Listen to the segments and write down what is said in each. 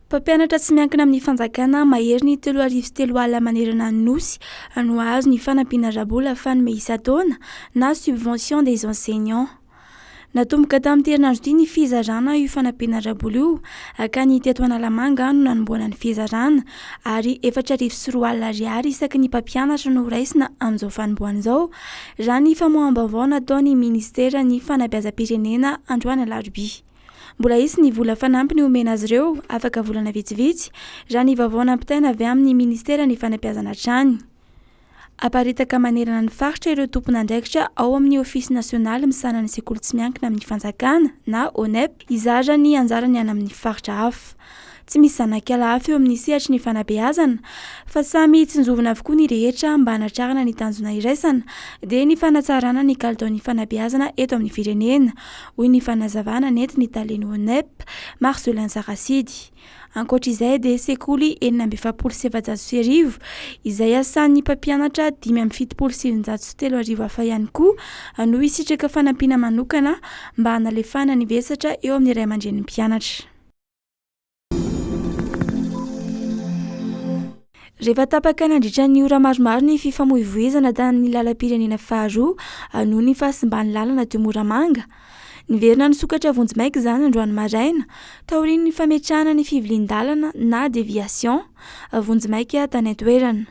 Mpampianatra tsy miankina amin'ny fanjakana mahery ny telo arivo sy telo alina manerana ny Nosy no hahazo ny fanampiana ara-bola fanome isan-taona na subvention des enseignants. Natomboka tamin'ity herinandro ity ny fizarana io fanampiana ara-bola io hankany teto Analamanga no nanombohana ny fizarana ary efatra arivo sy roa alina ariary isaky ny mpampianatra no horaisina amin'izao fanombohana izao raha ny famoaham-baovao nataon'ny minisiteran'ny fanabeazam-pirenena androany alarobia. Mbola hisy ny vola fanampiny homena azy ireo, afaka volana vitsivitsy, raha ny vaovao nampitaina avy amin'ny Ministeran'ny Fanabeazana hatrany. Aparitaka manerana ny faritra ireo tompon'andraikitra ao amin'ny Ofisy nasionaly misahana ny sekoly tsy miankina amin'ny fanjakana na ONEP hizara ny anjarany any amin'ny faritra hafa. Tsy misy zanakala hafa eo amin'ny sehatry ny fanabeazana fa samy tsinjovina avokoa ny rehetra mba hanatrarana ny tanjona iraisana dia ny fanatsarana ny kalitaon'ny fanabeazana eto amin'ny firenena, hoy ny fanazavana nentin'ny talen'ny ONEP, Marcelin Sarasidy. Ankoatra izay dia sekoly enina amby efapolo sy efajato sy arivo izay iasan'ny mpampianatra dimy amby fitopolo sy eninjato sy telo arivo hafa ihany koa no hisitraka fanampiana manokana mba hanalefahana ny vesatra eo amin'ny ray aman-drenim-pianatra. Rehefa tapaka nandritra ny ora maromaro ny fifamoivoizana tamin'ny lalam-pirenena faharoa noho ny fahasimban'ny lalana teo Moramanga. Niverina nisokatra vonjimaika izany androany maraina, taorian'ny fametrahana ny fivilian-dalana na déviation vonjimaika tany an-toerana.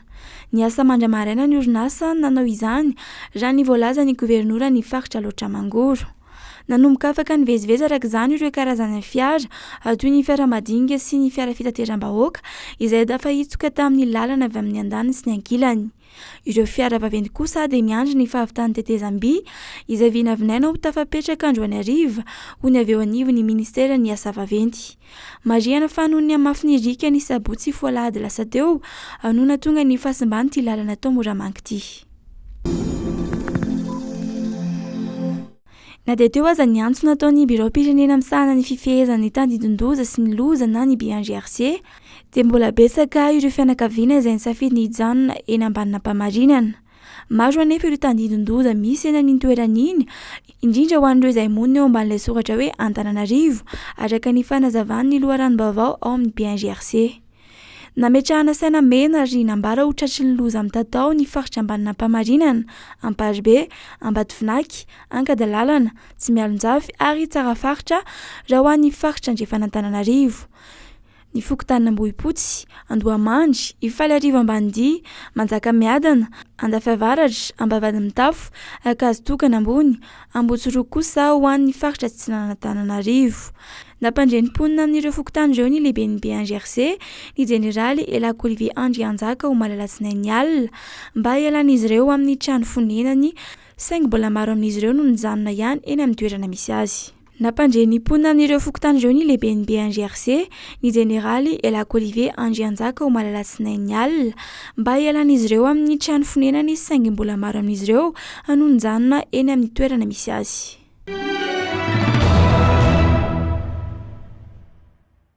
Niasa mandra-maraina ny orinasa nanao izany, raha ny voalazan'ny governoran'ny faritra Alaotra Mangoro. Nanomboka afaka nivezivezy araka izany ireo karazana fiara, toy ny fiara madinika sy ny fiara fitateram-bahoaka, izay tafahitsoka tamin'ny lalana avy amin'ny andaniny sy ny ankilany. Ireo fiara vaventy kosa dia miandry ny fahavitan'ny tetezam-by, izay vinavinaina ho tafapetraka androany hariva, hoy ny avy eo anivon'ny minisiteran'ny asa vaventy. Marihana fa noho ny hamafy ny riaka ny sabotsy sy foalahady lasa teo no nahatonga ny fahasimban'ity lalana tao Moramanga ity. Na dia teo aza ny antso nataon'ny biraom-pirenena misahana ny fifehezana ny tandindon-doza sy ny loza na ny BNGRC dia mbola betsaka ireo fianakaviana izay nisafidy ny hijanona eny ambaninampamarinana. Maro anefa ireo tandindon-doza misy eny an'iny toerana iny, indrindra ho an'ireo izay monina eo ambanin'ilay soratra hoe Antananarivo, araka ny fanazavan'ny loharanom-baovao ao amin'ny BNGRC. Nametrahana saina mena ary nambara ho tratry ny loza mitatao ny faritra Ambanin'Ampamarinana, Amparibe, Ambatovinaky, Ankadalàlana, Tsimialonjafy ary Tsarafaritra raha ho an'ny faritra andrefan'Antananarivo. ny fokontanin'Ambohipotsy, Andohamandry, Ifaliarivo Ambanidia, Manjakamiadana, Andafy Avaratra, Ambavahadimitafo, Ankazotokana Ambony, Ambohitsiroa kosa ho an'ny faritra atsinanan'Antananarivo. Nampandre ny mponina amin'ireo fokontany ireo ny lehiben'ny BNGRC, ny jeneraly Elako Olivier Andrianjaka omaly alatsinainy alina, mba hialan'izy ireo amin'ny trano fonenany, saingy mbola maro amin'izy ireo no nijanona ihany eny amin'ny toerana misy azy. Nampandre ny mponina amin'ireo fokontany ireo ny lehiben'ny BNGRC, ny jeneraly Elako Olivier Andrianjaka omaly alatsinainy alina, mba hialan'izy ireo amin'ny trano fonenany saingy mbola maro amin'izy ireo no nijanona eny amin'ny toerana misy azy.